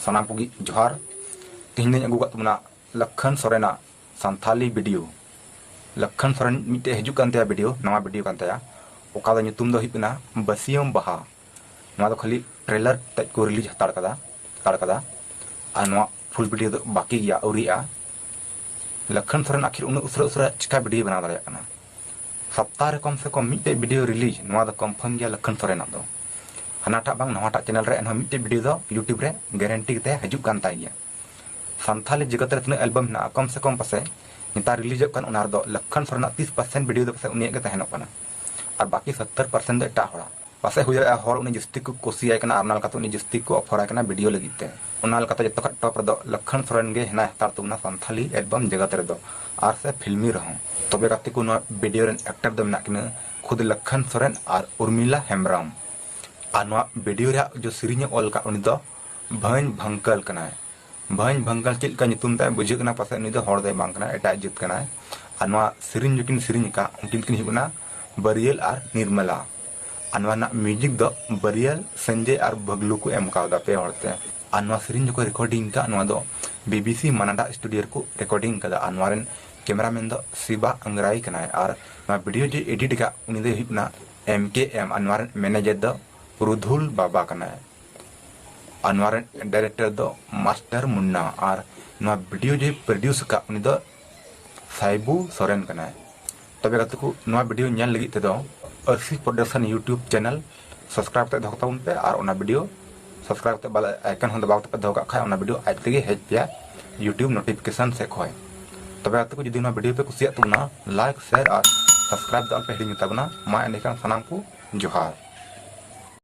ᱥᱟᱱᱟᱢ ᱠᱚᱜᱮ ᱡᱚᱦᱟᱨ ᱛᱮᱦᱮᱧ ᱫᱚᱧ ᱟᱹᱜᱩ ᱠᱟᱜ ᱛᱟᱵᱚᱱᱟ ᱞᱚᱠᱷᱚᱱ ᱥᱚᱨᱮᱱᱟᱜ ᱥᱟᱱᱛᱷᱟᱞᱤ ᱵᱷᱤᱰᱤᱭᱳ ᱞᱚᱠᱷᱚᱱ ᱥᱚᱨᱮᱱ ᱢᱤᱫᱴᱮᱡ ᱦᱤᱡᱩᱜ ᱠᱟᱱ ᱛᱟᱭᱟ ᱵᱷᱤᱰᱤᱭᱳ ᱱᱟᱣᱟ ᱵᱷᱤᱰᱤᱭᱳ ᱠᱟᱱ ᱛᱟᱭᱟ ᱚᱠᱟ ᱫᱚ ᱧᱩᱛᱩᱢ ᱫᱚ ᱦᱩᱭᱩᱜ ᱠᱟᱱᱟ ᱵᱟᱹᱥᱤᱭᱟᱹᱢ ᱵᱟᱦᱟ ᱱᱚᱣᱟ ᱫᱚ ᱠᱷᱟᱹᱞᱤ ᱴᱨᱮᱞᱟᱨ ᱛᱮᱡ ᱠᱚ ᱨᱤᱞᱤᱡᱽ ᱦᱟᱛᱟᱲ ᱠᱟᱫᱟ ᱦᱟᱛᱟᱲ ᱠᱟᱫᱟ ᱟᱨ ᱱᱚᱣᱟ ᱯᱷᱩᱞ ᱵᱷᱤᱰᱤᱭᱳ ᱫᱚ ᱵᱟᱹᱠᱤ ᱜᱮᱭᱟ ᱟᱹᱣᱨᱤᱜᱼᱟ ᱞᱚᱠᱷᱚᱱ ᱥᱚᱨᱮᱱ ᱟᱹᱠᱷᱤᱨ ᱩᱱᱟᱹᱜ ᱩᱥᱟᱹᱨᱟ ᱩᱥᱟᱹᱨᱟ ᱪᱤᱠᱟ ᱵᱷᱤᱰᱤᱭᱳ ᱵᱮᱱᱟᱣ ᱫᱟᱲᱮᱭᱟᱜ ᱠᱟᱱᱟ ᱥᱚᱯᱛᱟᱦᱚ ᱨᱮ ᱠᱚᱢ ᱥᱮ ᱠᱚᱢ ᱢᱤᱫᱴᱮᱡ ᱵᱷᱤᱰᱤᱭᱳ ᱨᱤᱞᱤᱡᱽ ᱱᱚᱣᱟ ᱫᱚ ᱠᱚᱱᱯᱷᱟᱨᱢ ᱜᱮᱭᱟ ᱞᱚᱠᱷᱚᱱ ᱥᱚᱨᱮᱱᱟᱜ ᱫᱚ ᱦᱟᱱᱟᱴᱟᱜ ᱵᱟᱝ ᱱᱚᱣᱟᱴᱟᱜ ᱪᱮᱱᱮᱞ ᱨᱮ ᱮᱱᱦᱚᱸ ᱢᱤᱫᱴᱮᱡ ᱵᱷᱤᱰᱤᱭᱳ ᱫᱚ ᱤᱭᱩᱴᱩᱵᱽ ᱨᱮ ᱜᱮᱨᱮᱱᱴᱤ ᱠᱟᱛᱮ ᱦᱤᱡᱩᱜ ᱠᱟᱱ ᱛᱟᱭ ᱜᱮᱭᱟ ᱥᱟᱱᱛᱷᱟᱞᱤ ᱡᱮᱜᱚᱛ ᱨᱮ ᱛᱤᱱᱟᱹᱜ ᱮᱞᱵᱟᱢ ᱢᱮᱱᱟᱜᱼᱟ ᱠᱚᱢ ᱥᱮ ᱠᱚᱢ ᱯᱟᱥᱮ ᱱᱮᱛᱟᱨ ᱨᱤᱞᱤᱡᱚᱜ ᱠᱟᱱ ᱚᱱᱟ ᱨᱮᱫᱚ ᱞᱚᱠᱷᱚᱱ ᱥᱚᱨᱮᱱᱟᱜ ᱛᱤᱥ ᱯᱟᱨᱥᱮᱱᱴ ᱵᱷᱤᱰᱤᱭᱳ ᱫᱚ ᱯᱟᱥᱮ ᱩᱱᱤᱭᱟᱜ ᱜᱮ ᱛᱟᱦᱮᱱᱚᱜ ᱠᱟᱱᱟ ᱟᱨ ᱵᱟᱹᱠᱤ ᱥᱚᱛᱛᱚᱨ ᱯᱟᱨᱥᱮᱱᱴ ᱫᱚ ᱮᱴᱟᱜ ᱦᱚᱲᱟᱜ ᱯᱟᱥᱮᱡ ᱦᱩᱭ ᱫᱟᱲᱮᱭᱟᱜᱼᱟ ᱦᱚᱲ ᱩᱱᱤ ᱡᱟᱹᱥᱛᱤ ᱠᱚ ᱠᱩᱥᱤᱭᱟᱭ ᱠᱟᱱᱟ ᱟᱨ ᱚᱱᱟ ᱞᱮᱠᱟᱛᱮ ᱩᱱᱤ ᱡᱟᱹᱥᱛᱤ ᱠᱚ ᱚᱯᱷᱚᱨ ᱟᱭ ᱠᱟᱱᱟ ᱵᱷᱤᱰᱤᱭᱳ ᱞᱟᱹᱜᱤᱫ ᱛᱮ᱾ ᱚᱱᱟ ᱞᱮᱠᱟᱛᱮ ᱡᱚᱛᱚ ᱠᱷᱚᱡ ᱴᱚᱯ ᱨᱮᱫᱚ ᱞᱚᱠᱠᱷᱚᱱ ᱥᱚᱨᱮᱱ ᱜᱮ ᱦᱮᱱᱟᱭ ᱦᱟᱛᱟᱲ ᱛᱟᱵᱚᱱᱟ ᱥᱟᱱᱛᱷᱟᱞᱤ ᱮᱞᱵᱚᱢ ᱡᱮᱜᱟᱛ ᱨᱮᱫᱚ ᱟᱨ ᱥᱮ ᱯᱷᱤᱞᱢᱤ ᱨᱮᱦᱚᱸ᱾ ᱛᱚᱵᱮ ᱜᱟᱛᱮ ᱠᱚ ᱱᱚᱣᱟ ᱵᱷᱤᱰᱤᱭᱳ ᱨᱮᱱ ᱮᱠᱴᱟᱨ ᱫᱚ ᱢᱮᱱᱟᱜ ᱠᱤᱱᱟᱹ ᱠᱷᱩᱫᱽ ᱞᱚᱠᱠᱷᱚᱱ ᱥᱚᱨᱮᱱ ᱟᱨ ᱩᱨᱢᱤᱞᱟ ᱦᱮᱢᱵᱽᱨᱚᱢ᱾ ᱟᱨ ᱱᱚᱣᱟ ᱵᱷᱤᱰᱤᱭᱳ ᱨᱮᱭᱟᱜ ᱡᱚ ᱥᱮᱨᱮᱧ ᱮ ᱚᱞ ᱟᱠᱟᱫ ᱩᱱᱤ ᱫᱚ ᱵᱷᱟᱹᱧ ᱵᱷᱟᱝᱠᱟᱹᱞ ᱠᱟᱱᱟᱭ᱾ ᱵᱷᱟᱹᱧ ᱵᱷᱟᱹᱝᱠᱟᱞ ᱪᱮᱫ ᱞᱮᱠᱟ ᱧᱩᱛᱩᱢ ᱛᱟᱭ ᱵᱩᱡᱷᱟᱹᱜ ᱠᱟᱱᱟ ᱯᱟᱥᱮᱡ ᱱᱩᱭ ᱫᱚ ᱦᱚᱲ ᱫᱚᱭ ᱵᱟᱝ ᱠᱟᱱᱟᱭ ᱮᱴᱟᱜ ᱡᱟᱹᱛ ᱠᱟᱱᱟᱭ ᱟᱨ ᱱᱚᱣᱟ ᱥᱮᱨᱮᱧ ᱡᱚᱠᱤᱱ ᱥᱮᱨᱮᱧ ᱟᱠᱟᱫ ᱩᱱᱠᱤᱱ ᱫᱚᱠᱤᱱ ᱦᱩᱭᱩᱜ ᱠᱟᱱᱟ ᱵᱟᱹᱨᱤᱭᱟᱹᱞ ᱟᱨ ᱱᱤᱨᱢᱟᱞᱟ ᱟᱨ ᱱᱚᱣᱟ ᱨᱮᱱᱟᱜ ᱢᱤᱣᱡᱤᱠ ᱫᱚ ᱵᱟᱹᱨᱤᱭᱟᱹᱞ ᱥᱚᱧᱡᱚᱭ ᱟᱨ ᱵᱷᱟᱜᱽᱞᱩ ᱠᱚ ᱮᱢ ᱠᱟᱣᱫᱟ ᱯᱮ ᱦᱚᱲ ᱛᱮ ᱟᱨ ᱱᱚᱣᱟ ᱥᱮᱨᱮᱧ ᱡᱚᱠᱷᱚᱱ ᱨᱮᱠᱚᱨᱰᱤᱝ ᱟᱠᱟᱫ ᱱᱚᱣᱟ ᱫᱚ ᱵᱤᱵᱤᱥᱤ ᱢᱟᱱᱟᱰᱟ ᱥᱴᱩᱰᱤᱭᱳ ᱨᱮᱠᱚ ᱨᱮᱠᱚᱨᱰᱤᱝ ᱟᱠᱟᱫᱟ ᱟᱨ ᱱᱚᱣᱟ ᱨᱮᱱ ᱠᱮᱢᱮᱨᱟᱢᱮᱱ ᱫᱚ ᱥᱤᱵᱟ ᱟᱝᱜᱽᱨᱟᱭ ᱠᱟᱱᱟᱭ ᱟᱨ ᱱᱚᱣᱟ ᱵᱷᱤᱰᱤᱭᱳ ᱡᱮ ᱮᱰᱤᱴ ᱟᱠᱟᱫ ᱩᱱᱤ ᱫᱚᱭ ᱦᱩᱭᱩᱜ ᱠᱟᱱᱟ ᱮᱢ ᱠᱮ ᱮᱢ ᱟᱨ ᱱᱚᱣᱟ ᱨᱮᱱ ᱢᱮᱱᱮᱡᱟᱨ ᱫᱚ ᱨᱩᱫᱷᱩᱞ ᱵᱟᱵᱟ ᱠᱟᱱᱟᱭ ᱟᱨ ᱱᱚᱣᱟ ᱨᱮᱱ ᱰᱟᱭᱨᱮᱠᱴᱚᱨ ᱫᱚ ᱢᱟᱥᱴᱟᱨ ᱢᱩᱱᱱᱟ ᱟᱨ ᱱᱚᱣᱟ ᱵᱷᱤᱰᱤᱭᱳ ᱡᱮ ᱯᱨᱚᱰᱤᱭᱩᱥ ᱟᱠᱟᱫ ᱩᱱᱤ ᱫᱚ ᱥᱟᱭᱵᱩ ᱥᱚᱨᱮᱱ ᱠᱟᱱᱟᱭ ᱛᱚᱵᱮ ᱜᱟᱛᱮ ᱠᱚ ᱱᱚᱣᱟ ᱵᱷᱤᱰᱤᱭᱳ ᱧᱮᱞ ᱞᱟᱹᱜᱤᱫ ᱛᱮᱫᱚ ᱟᱨᱥᱤ ᱯᱨᱚᱰᱟᱠᱥᱚᱱ ᱤᱭᱩᱴᱩᱵᱽ ᱪᱮᱱᱮᱞ ᱥᱟᱵᱥᱠᱨᱟᱭᱤᱵ ᱠᱟᱛᱮ ᱫᱚᱦᱚ ᱛᱟᱵᱚᱱ ᱯᱮ ᱟᱨ ᱚᱱᱟ ᱵᱷᱤᱰᱤᱭᱳ ᱥᱟᱵᱥᱠᱨᱟᱭᱤᱵ ᱠᱟᱛᱮ ᱵᱟᱞᱟ ᱟᱭᱠᱚᱱ ᱦᱚᱸ ᱫᱟᱵᱟᱣ ᱠᱟᱛᱮ ᱫᱚᱦᱚ ᱠᱟᱜ ᱠᱷᱟᱡ ᱚᱱᱟ ᱵᱷᱤᱰᱤᱭᱳ ᱟᱡ ᱛᱮᱜᱮ ᱦᱮᱡ ᱯᱮᱭᱟ ᱤᱭᱩᱴᱩᱵᱽ ᱱᱳᱴᱤᱯᱷᱤᱠᱮᱥᱚᱱ ᱥᱮᱫ ᱠᱷᱚᱡ ᱛᱚᱵᱮ ᱜᱟᱛᱮ ᱠᱚ ᱡᱩᱫᱤ ᱱᱚᱣᱟ ᱵᱷᱤᱰᱤᱭᱳ ᱯᱮ ᱠᱩᱥᱤᱭᱟᱜ ᱛᱟᱵᱚᱱᱟ ᱞᱟᱭᱤᱠ ᱥᱮᱭᱟᱨ ᱟᱨ ᱥᱟᱵᱥᱠᱨᱟᱭᱤᱵ ᱫᱚ ᱟᱞᱚᱯᱮ ᱦᱤᱲᱤᱧ ᱛᱟᱵᱚᱱᱟ ᱢᱟ ᱮᱸᱰᱮᱠᱷᱟᱱ ᱥᱟᱱᱟᱢ ᱠᱚ ᱡᱚᱦᱟᱨ